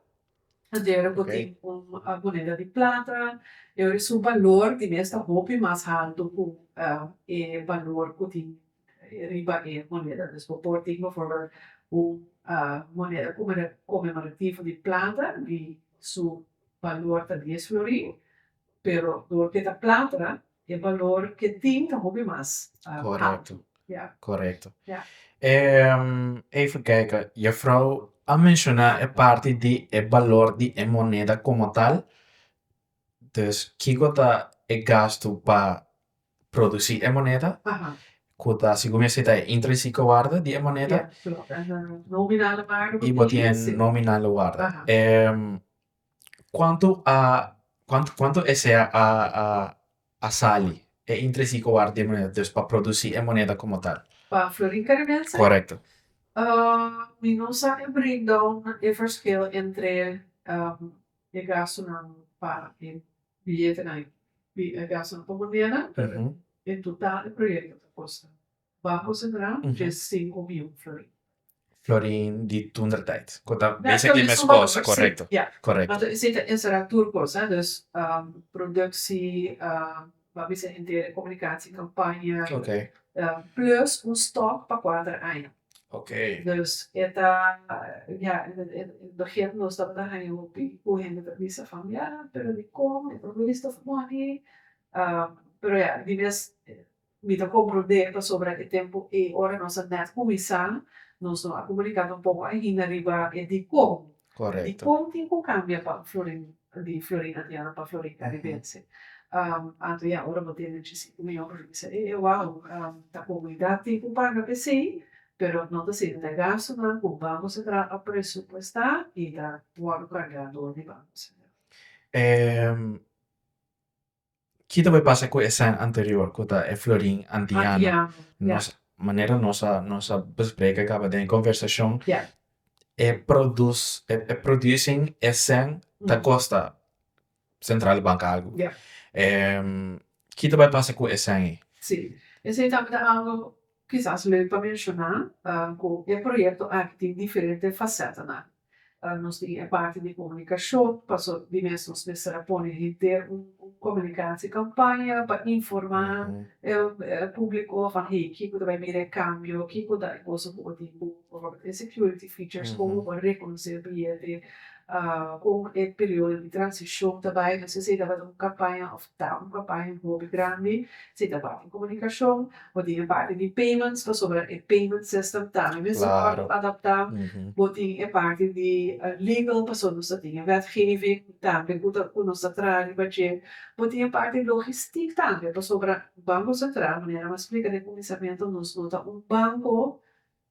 anterior ku tin un moneda di plata i oris su balor di mes ta hopi mas haltu ku e balor ku tin riba e moneda. Dus bo por tin bòforbèl un moneda komemorativo di plata di su balor ta dies florin Pero dor ke ta platra e balor ke tin ta hopi mas haltu. Korekto. Even kijk, juffrouw a menciona e parti di e balor di e moneda como tal, dus kiko ta e gastu pa produci e moneda ku ta segun mi a si ta e intrinsico warde di e moneda i bo tin e nominale warde. Cuanto a cuanto esey a sali e interesí cu ward di e moneda dus pa produci e moneda como tal. Pa florin caribense? Correcto. Mi no sa e breakdown e verschil entre e gastunan pa e billetenan y e gastunan pa moneda pero e total di proyecto ta costa Ba concentra dje cinco biu florin. Florin di tundra tijd. Cu ta basically mes cosa, correcto. Ya. Correcto. Pero esey ta encera tur cosa, dus productie, ba bisa henter comunicatie campaña. Okay. Plus un stock pa cuater aña. Okay. Dus e ta, ya, e begin nos tabata haya hopi cu hende ta bisa van, ya, pero dicon e produce ta for modi? Pero ya, di mes. Mi ta komprondé pasobra e tempu ei ora nos a nèt kuminsá, nos lo a komuniká ta un poko ainda riba e dikon. Dikon tin ku kambia pa un florin di Florin Andiano pa Florin Karibense. Anto ya ora bo tene chisiku mi hombro mi bisa e wou ta komunidat tin ku paga p'esei pero no ta sende ta gastunan ku Banko Sentral a presupuestá i ta wòrdu kargá dor di Banko Sentral. Ki ta bai pasa ku e sèn anterior ku ta e florin antiano? Nos manera nos a nos a bespreka kaba den e kòmbersashon e produs e producing e sèn ta kosta sentral di banka algu ki ta bai pasa ku e sèn ei? Si esei tabata algu kisas leu pa menshona ku e proyekto aki tin diferente fasètanan Nos tin e parti di komunikashon, paso di mes nos mester pone henter un komunikasi kampaña pa informá e públiko van hey kiko ta bai mira e kambio, kiko ta e kosa ku bo tin ku e security features, kon bo por rekonosé bilhete, kon e periodo di transishon ta bai, entonces esei tabata un kampaña òf Ta un campaña hopi grandi si ta parti comunicacion bo tin e parti di payments pasobra e payment system tambe mes a word adapta bo tin e parti di legal pasobra nos ta tin e wetgeving tambe cu ta cu nos ta traha riba dje bo tin e parti logistic tambe pasobra banco central manera mi a splica den cuminsamentu nos no ta un banco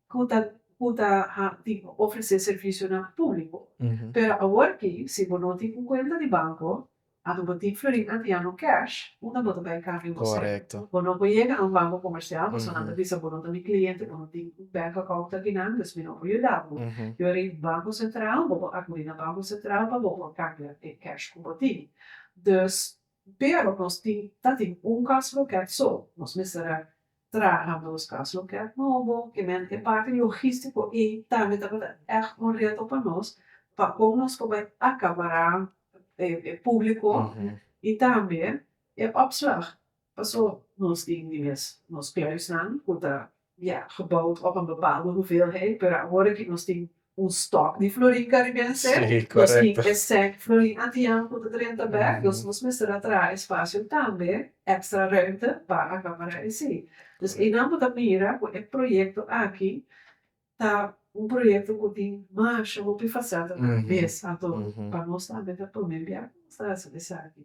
ku ta ku ta ha tin ofresé servisionan públiko. Pero awor aki, si bo no tin un kuenta di banko, anto bo tin florin antiano kèsh, unda bo ta bai kambio bo sèntido? Bo no por yega na un banko komersial pasobra nan ta bisa bo no ta mi kliente, bo no tin un bènk akount aki nan, dus mi no por yuda bo. Yori Banko Sentral, bo por akudí na Banko Sentral pa bo por kambia e kèsh ku bo tin. Dus, pero nos tin ta tin un kòs lokèt so, nos mester a Traha na nos kas lokèt nobo, kement e parti logístiko ei tambe tabata ègt un reto pa nos pa kon nos por bai akabará e públiko i tambe e òpslag. Paso nos tin di mes nos kluisnan ku ta ya geboud op un bepaalde hoeveelheid, pero awor aki nos tin un stock di florin caribense nos tin e sec florin antijan cu ta drenta bek nos nos mester a traha espacio tambe extra ruimte pa acabara esi dus einan bo ta mira cu e proyecto aki ta un proyecto cu tin masha hopi faceta ta mes ato pa nos tambe ta pone bia nos ta hasi esaki.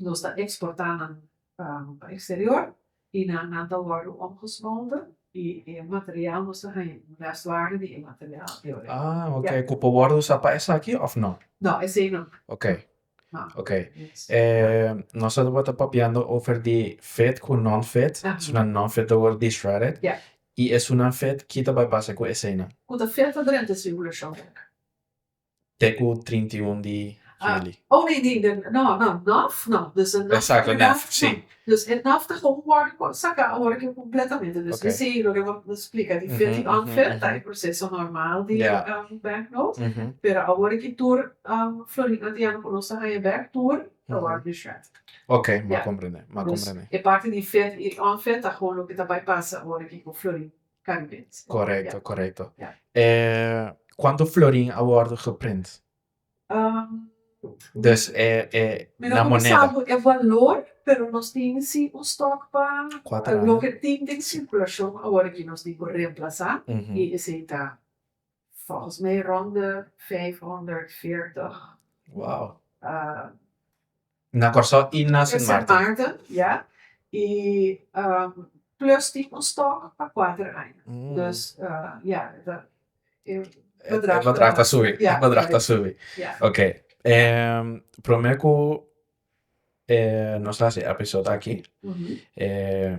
nos ta eksportá nan pa eksterior i nan ta wòrdu omgesmolde i e material nos ta haña un mèstlage di e material di origen. Ah ok, ku por wòrdu usá pa esaki òf nò? Nò, esei nò. Ok, ok. E nos tabata papiando over di fit ku nonfit, esunnan nonfit ta wòrdu dishredded i esunnan fit, ki ta bai pasa ku eseinan? Ku ta fit adrenta e sirkulashon. Te ku trinta i un di huli. Oh nee nee den no no nov no dus e nov Exacto nov nov si no dus e nov ta kon worde kon saka ora ke kompletamente dus mi si loke bo ta splika di fia di Anfer ta e proseso normal di bank not pero awor ke tur Florida di ano ku nos ta haña bek tur ta worde dished Okay m'a komprende m'a komprende dus e parti di fia di Anfer ta kon loke ta bai pasa ora ke ku Florida. Cambridge. Correcto, correcto. Ja. E cuanto florin a wordo geprint? Um, Dus e, e mi no na cuminsa moneda. cu e valor, pero nos tin si un stock pa Cuater aña. loke tin den circulacion awor aki nos tin cu reemplaza Ujú. y esey ta Volgens mij rond de vijfhonderdveertig. Wow. Na Kòrsou i na Sint Maarten. ja. I plus di un stòk pa kuater aña. Dus ja, e bedrag ta subi. E bedrag ta subi. Oké. Promé ku nos ta haci episode aki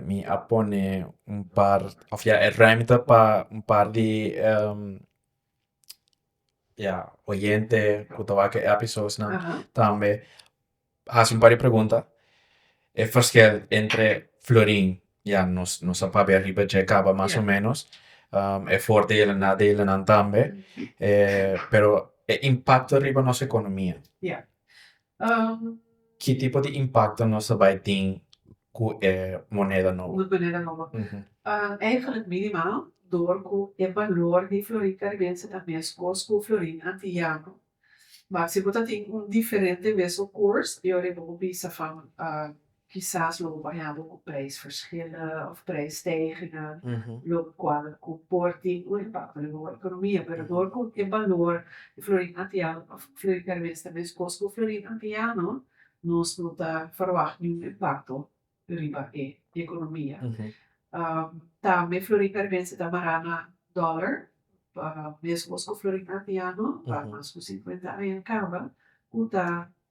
mi a pone un par of ya e ruimte pa un par di ya oyente ku ta wak e episodes nan tambe haci un par di pregunta e verschil entre florin ya nos nos a papia riba dje kaba mas o menos e fordelen en nadelen nan tambe pero e impacto riba nos economia Ki tipo di impakto nos ta bai tin ku e moneda nobo? Eigenlijk minimaal, dor ku e balor di florin karibense ta meskos ku florin antiyano. Bo ta tin un diferente mesun koers, yo riba bo bisa van Kisas lo bo por hende ku preisverschillen of preisstijgingen lo kual ku por tin un impakto riba bo ekonomia. Pero dor ku e balor di florin antiano of florin karibes ta meskos ku florin antiano nos no ta ferwagt niun impakto riba e ekonomia. Tambe florin karibense ta mará na dòler meskos ku florin antiano pa mas ku sinkuenta aña kaba ku ta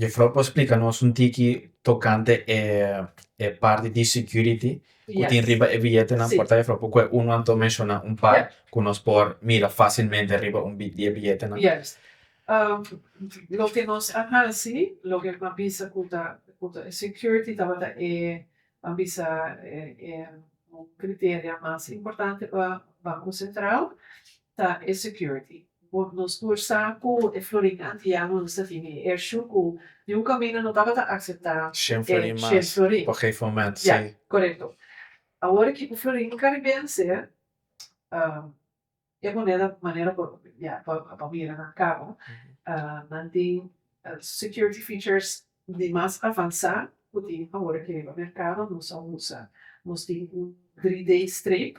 Jefrou por splika nos un tiki tokante e e parti di security ku tin riba e biyetenan por ta jefrou por kue unu anto menshoná un par ku nos por mira fasilmente riba un di e biyetenan. loke nos a hasi loke a bisa ku ta ku ta security tabata e a bisa e e un kriteria mas importante pa banko sentral ta e security. Bo nos por sa ku e florin antiano nos ta tin e ershu ku di un kamino no tabata akseptá e shen florin mas. Ya, korekto. Awor ki ku florin karibense e moneda manera por ya pa mira nan karo nan tin security features di mas avansá ku tin awor e ki riba merkado nos a usa. Nos tin un 3D strip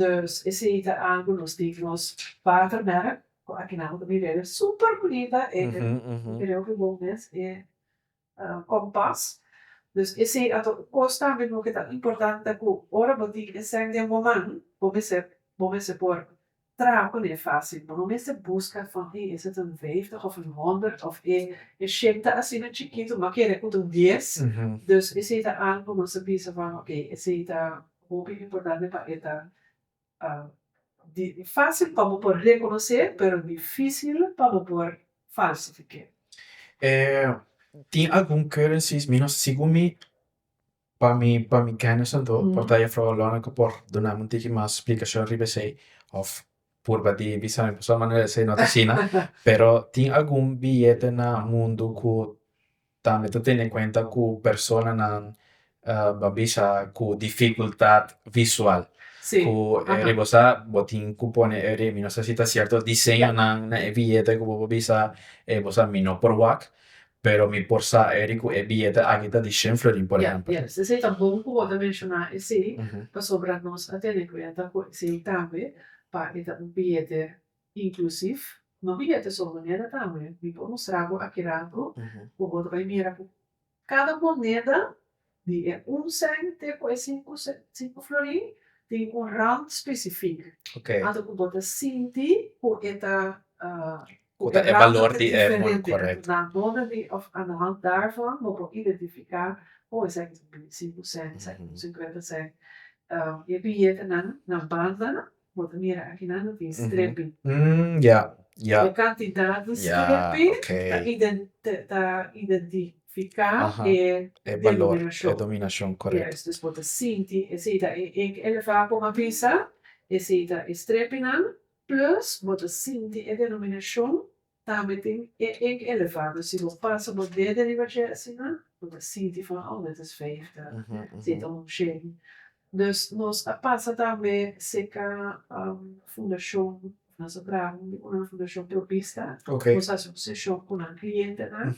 Dus esei ta algu nos tin nos water merk cu akinan ta bibel e super bunita e creo cu bon mes e compass dus esei a ta un cos tambe no ke ta importante cu ora bo tin e sèn den bo man bo mester bo mester por Trapo no e fásil, bo no mester buska for di e zetenvijftig of e honderd of e e shimta asina chikitu, bo a kere ku ta un dies. Dus esei ta algu ku nos ta bisa van oke, esei ta hopi importante pa e ta di fásil pa bo por rekonosé pero difísil pa bo por falsifiké. Tin algun currencies mi no segun mi Pa mi pa mi kènis anto por ta e froa lòna ku por dunami un tiki mas splikashon riba esei òf purba di bisa mi pasobra manera esei no ta asina pero tin algun billete na mundu ku tambe ta tene kuenta ku personanan ba bisa ku difikultat visual ku riba sa bo tin ku pone e mi no sa si ta sierto diseñonan na e billete ku bo por bisa e bo sa mi no por wak Pero mi por sa Eric cu e billete aki ta di shen florin por ehempel. Yes, esey ta bon cu bo ta menciona esey pasobra nos a tene cuenta cu esey tambe pa e ta un billete inclusief, no billete so moneda tambe, mi por mustra bo aki rato cu bo ta bay mira cu cada moneda Di e un cent te ku e sinku sinku florin tin un rand spesifik. Anto ku bo ta sinti ku e ta ku e rand ta diferente na borde di òf anahand darvan bo por identifiká oh esaki ta un bini sinku cent esaki ta un sinkuenta cent. E biyetenan na bandanan Bo ta mira aki nan lo tin strepi. E kantidat di strepi ta identifiká e denominashon. Dus bo ta sinti esei ta e ek elevá ku bo a bisa, esei ta e strepinan, plus bo ta sinti e denominashon Tambe tin e ink elevado, si bo pasa bo dede riba dje asina bo ta sinti van oh dit is veilig ta si ta homogene. Dus nos a pasa tambe seka fundashon of nos a traha un di unan fundashon pro bista, nos a hasi un seshon ku nan klientenan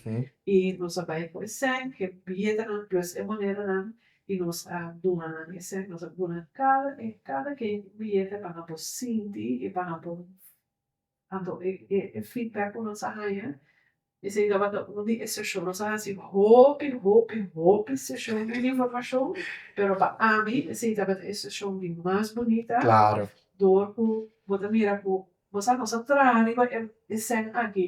i nos a bai ku esèn he biyedanan plus he moneranan i nos a duna nan esèn, nos a duna nan kada e kada kein biyete pa nan por sinti i pa nan por Anto e feedback ku nos a haña esei tabata un di e seshon nos a hasi hopi hopi hopi seshon den informashon pero pa ami esei tabata e seshon di mas bunita dor ku bo ta mira ku nos a nos a traha riba e sèn aki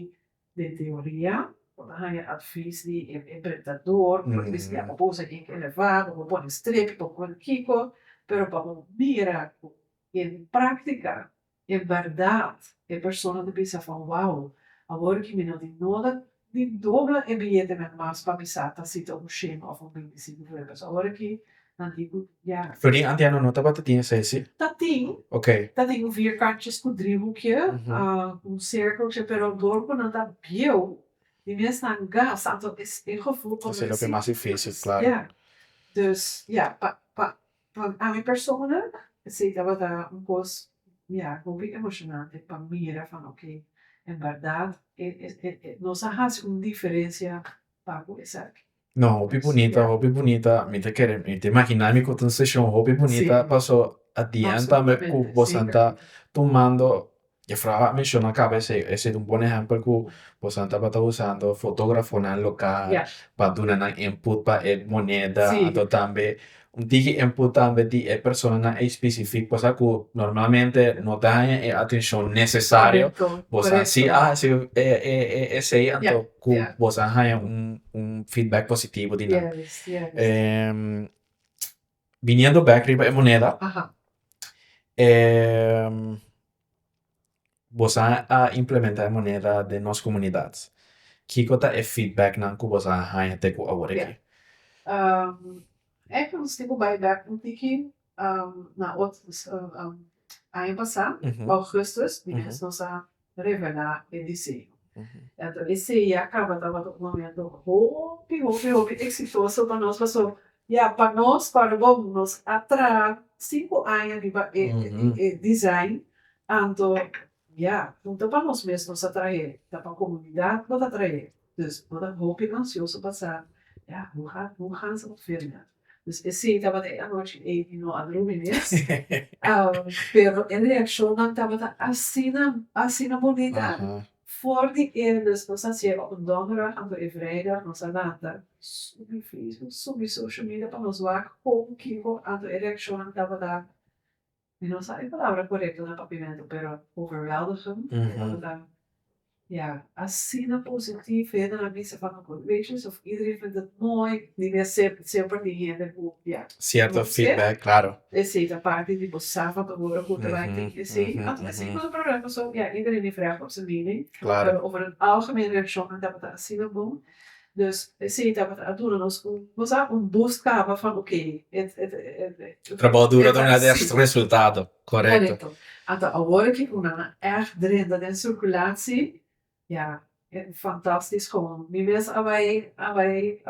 den teoria bo ta haña advis di e prentador bo ta mester haña bosa ink elevado bo pone strepi bo pone kiko pero pa bo mira ku den praktika E bèrdat, e persona ta bisa van wou, awor ki mi no tin noda, mi dobla e biyetenan mas pa mi sa ta si ta un shema of un bindisí. Bijvoorbeeld, awor ki nan tin ku ya. Verdí antiano no tabata tin esei, si? Ta tin. Ok. Ta tin un vierkantjes ku dribuke, ku un serkeltje, pero dor ku nan ta bieu, di mes nan gas, tantu es e gevoel. Ta ser loke mas difísil, klaro. Ja. Dus, ja, pa, pa, Pa ami persona si tabata un kos mira hopi emoshonante pa mira fan ok en bèrdat nos a hasi un diferensia pa ku esaki. No hopi bunita hopi bunita mi ta kere mi ta imaginá mi ku ta un seshon hopi bunita paso at di end tambe ku bosan ta tumando E fraha a menshona caba esey ta un bon ehempel cu boso tabata usando fotografonan local pa duna nan input pa e moneda anto tambe un tiki input tambe di e personanan ey specifico cosa cu normalmente no ta haya e atencion necesario boso a si a hasi esey anto cu boso a haya un feedback positivo di nan. Biniendo bek riba e moneda, e bosa a implementa e moneda den nos komunidat? Kiko ta e feedbacknan ku bosa a haña te ku awor aki? Ek nos tin ku bai bek un tiki na otro aña pasa, Augustus, di mes nos a revelá e diseño. Enton e serie a kaba tabata un momento hopi, hopi, hopi eksitoso pa nos pasobra ya pa nos para bon nos a traha sinku aña riba e design anto ya no ta pa nos mes nos a trahe ta pa komunidat bo ta trahe. Dus bo ta hopi ansioso pa sa, Ya, bo ha, bo ha sa firme. Dus esei tabata e anochi ei di no a drumi mes. Pero e reakshonnan tabata asina, asina bonita. For di e, dus nos a hasié op un donderdag anto e vrijdag nos a lanta subi facebook, subi social media pa nos wak kon kiko anto e reakshonnan tabata. Mi no sa e palabra korekto na papimento pero overwheldo su e tabata ta ya asina positief hende na bisa pa mi ku gracious of iedereen vindt het mooi di mia semper tin hende ku ya Cierto feedback claro esey ta parti di bo safa pa worde ku ta right tin esey aunke mi siña ku ta problema paso ya iedereen a frèg op su mening pero over het algemeen reaccion nan tabata asina bon Dus si tabata a dura nos un cosa un bus caba fa ok e trabaho duro ta wenda e resultado corecto ato awor ki cu nan a echt drenta den circulatie ya e fantastisch como mi mes a bay a bay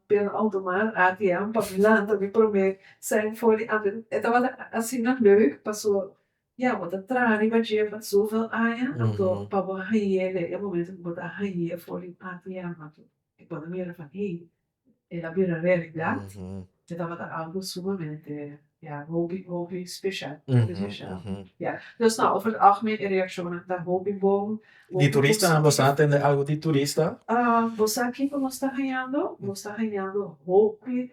binnen auto mar atm pa mi lanta mi prome cent for di auto e tabata asina leuk pasobra Ya, bo ta traha riba dje pa zoveel aña, anto pa bo hai'é den e momento ku bo ta hai'é for di ATM tu i bo ta mira van hey, el a bira realidat, e tabata algu sumamente, ya, hopi, hopi special, hopi special. Ya, dus no, over de algemeen e reaccionnan ta hopi bon, hopi positivo. Bo sa kiko nos ta hañando? Nos ta hañando hopi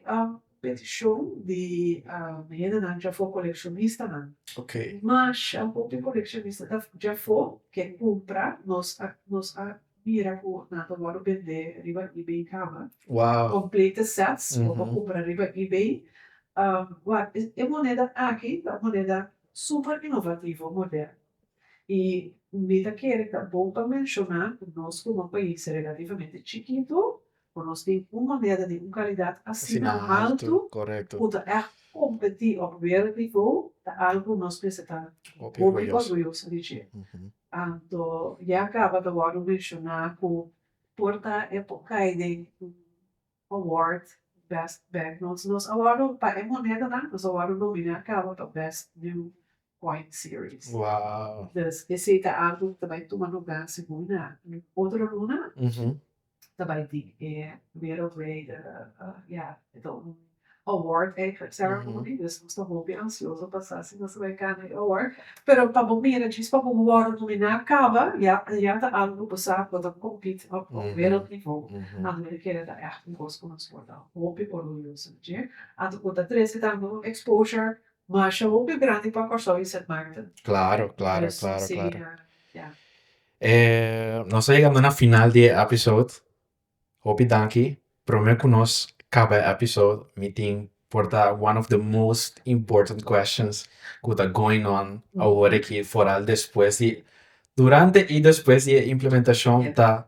Petishon di hendenan djafó kolekshonistanan. Ma sha hopi kolekshonista ta djafó ke kumpra, nos a nos a mira ku nan ta wòrdu bendé riba eBay kaba komplete sèts bo por kumpra riba eBay. Wak, e moneda aki ta un moneda super inovativo, moderno. I mi ta kere ta bon pa menshoná ku nos komo un pais relativamente chikitu Ku nos tin un moneda di un kalidat asina haltu ku ta ègt kompetí òf wèreldnivou, ta algu nos mester ta hopi orguyoso di dje. Anto ya kaba ta wòrdu menshoná ku por ta e por kai den un award best banknotes. Nos a wòrdu, pa e monedanan, nos a wòrdu nominá kaba pa best new coin series. Dus esei ta algu ku ta bai tuma lugá segun nan otro lunan. ta bai di e wereldwijde ya e ta un award eigenlijk ceremony dus nos ta hopi ansioso pa sa si nos ta bai gana e award pero pa bo mira djis pa bo wòrdu nomina kaba ya ya ta algu ku bo sa ku bo ta compete op wereld nivo anto bo ta kere ta ègt un kos ku nos por ta hopi orguyoso di dje anto ku ta trese tambe un exposure masha hopi grandi pa Kòrsou y Sint Maarten dus nos ta siña ya. nos ta yegando na final di e episode, hopi danki, prome ku nos kaba e episode mi tin por ta one of the most important questions ku ta going on awor aki foral despues di, durante i despues di e implementashon ta.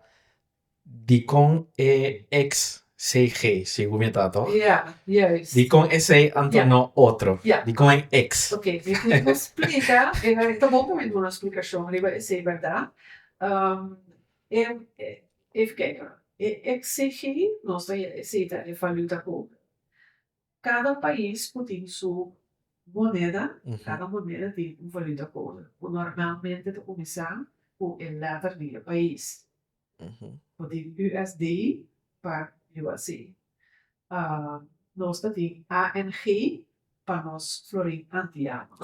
Dikon e ex sei G segu mi ta toch? Ya, juist. Dikon e sei anto no otro? Ya. Dikon e ex? Ok, mi tin ku splika e wei, ta bon ku mi duna un splikashon riba e sei bèrdat. E even kèk, e ex sei G nos ta e sei ta e valuta ku Cada pais cu tin su moneda, cada moneda tin un valuta code, cu normalmente ta cuminsa cu e letter di e pais. Bo tin USD pa USA. Nos ta tin ANG pa nos florin antiano.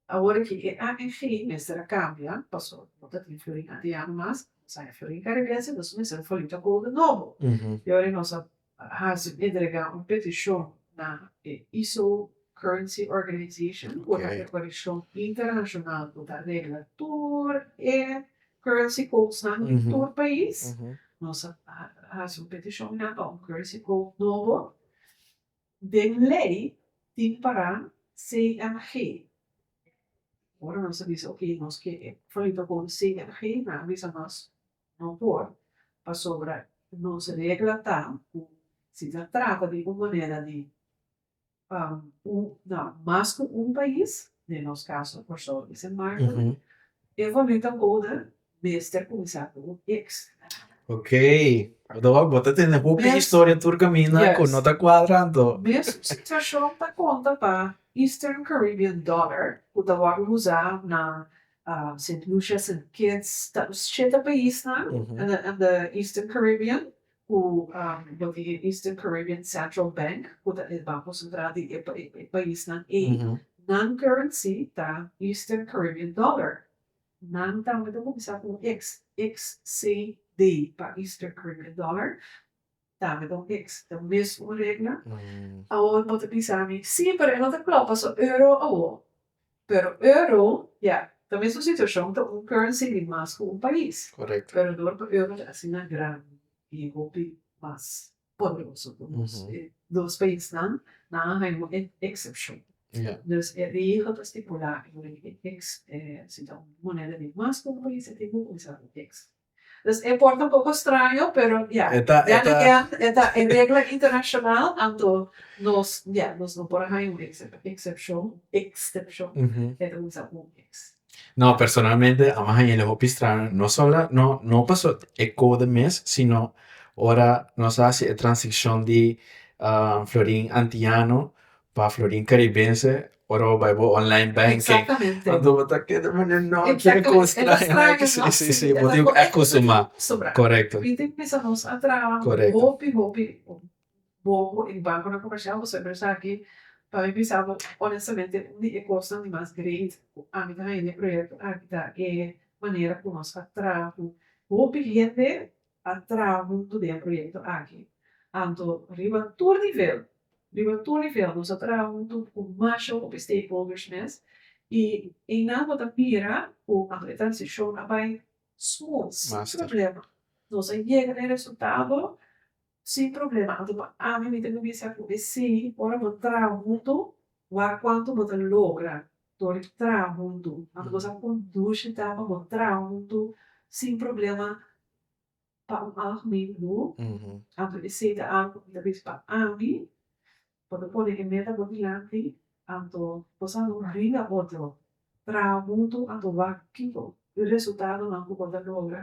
Awor aki e ANG mester a kambia paso no ta tin Fiorin Antiano mas, nos a haña Fiorin Caribense entonces mester foliu ta kobra nobo. Y ora nos a haci entrega un peticion na e ISO Currency Organization cu ta e coleccion internacional cu ta regla tur e currency codes nan di tur pais, nos a haci un peticion na pa un currency code nobo. Den ley tin para CNG. Ora nos ta bisa ok nos ke e proyecto con CNG nan a bisa nos no por pasobra nos regla ta cu si ta trata di un manera di na mas cu un pais den nos caso por so y sin marco e voluta boda mester kumsa ku un eks. Ok, Rodolfo bo ta tene hopi historia tur kaminda ku no ta kuadra anto. Mesmu situashon ta konta pa Eastern Caribbean Dollar ku ta wòrdu usá na Saint Lucia, Saint Kitts, ta shete paisnan in the Eastern Caribbean ku bo tin e Eastern Caribbean Central Bank ku ta e banko sentral di e paisnan ei. Nan currency ta Eastern Caribbean Dollar. Nan tambe ta kumsa ku un eks, eks CD pa Easter Cricket Dollar tambe ta un eks, ta mes un regla. Awor bo ta bisa mi, sí, pero e no ta klop paso euro awor. Pero euro, ya, ta mes un situashon, ta un currency di mas ku un pais. Pero dor pa euro ta asina grandi i hopi mas. poderoso ku nos. E dos paisnan, nan a haña un eksepshon. Dus e regel ta stipulá en lei di eks. Si ta un moneda di mas ku un pais, e tin ku kuminsá ku eks. Dus e por ta un poko straño, pero ya, den again, e ta e regla internashonal, anto nos, ya, nos no por a haña un eksepshon, ekstepshon, e ta kuminsá ku un eks. No, personalmente a mi haña el hopi strano, no solo no pasobra e kode mes, sino ora nos a hasi e transicion di florin antiano pa florin caribense, ora bo bai bo online banking, anto bo ta keda mira den no kier e kos strano aki, si, si, si, bo tin acustumá. Corecto. boku e bankonan komershial bo siempre sa ke pa mi bisa bo onestamente un di e kosnan di mas great ku ami ta haña den e proyekto aki ta e manera ku nos a traha ku hopi hende a traha huntu den e proyekto aki anto riba tur nivel riba tur nivel nos a traha huntu ku masha hopi stakeholders mes i einan bo ta mira ku anto e transishon a bai smooth sin problema nos a yega den resultado Sin problema anto pa ami mi ta bin bisa ku e si ora bo traha huntu wak kuantu bo ta logra tur di traha huntu anto bo sa kon dushi ta pa bo traha huntu sin problema pa un alg mindu anto ese ta algu ku mi ta bisa pa ami bo ta pone e meta bo dilanti anto bo sa no bringa otro traha huntu anto wak kiko e resultadonan ku bo ta logra.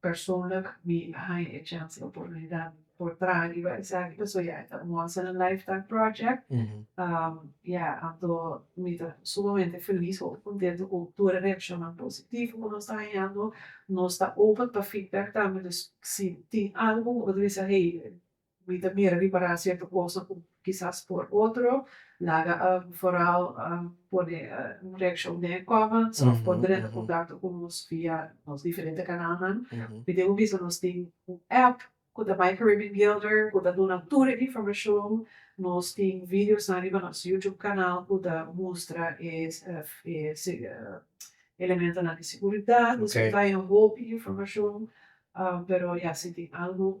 Persoonlijk mi a haña e chans i oportunidat for traha riba esaki pasobra ya e ta un once in a lifetime project ya anto mi ta sumamente felis hopi contento cu tur e reaccionnan positivo cu nos ta hañando nos ta open pa feedback tambe dus si tin algo cu bo ta bisa hey Mi ta mira ripará sierto cosa cu kisas por otro laga algu foral pone un reaccion den e comments of por drenta e contacto cu nos via nos diferente canalnan. Mi debo bisa nos tin un app cu ta My Caribbean Gilder cu ta duna tur e informacion. Nos tin videonan riba nos YouTube canal cu ta mustra e elementonan di seguridad. Nos tin bay un hopi informacion pero ya si tin algu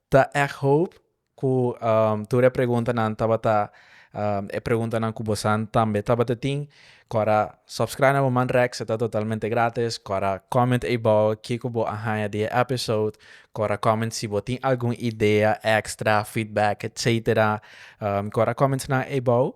Ta èk hoop ku tur e preguntanan tabata e preguntanan ku bosan tambe tabata tin. Kòrda subscribe na bo man Rex, e ta totalmente grátis. Kòrda comment eibou kiko bo a haña di e episode. Kòrda comment si bo tin algun idea extra, feedback, etcétera. Kòrda comments nan eibou.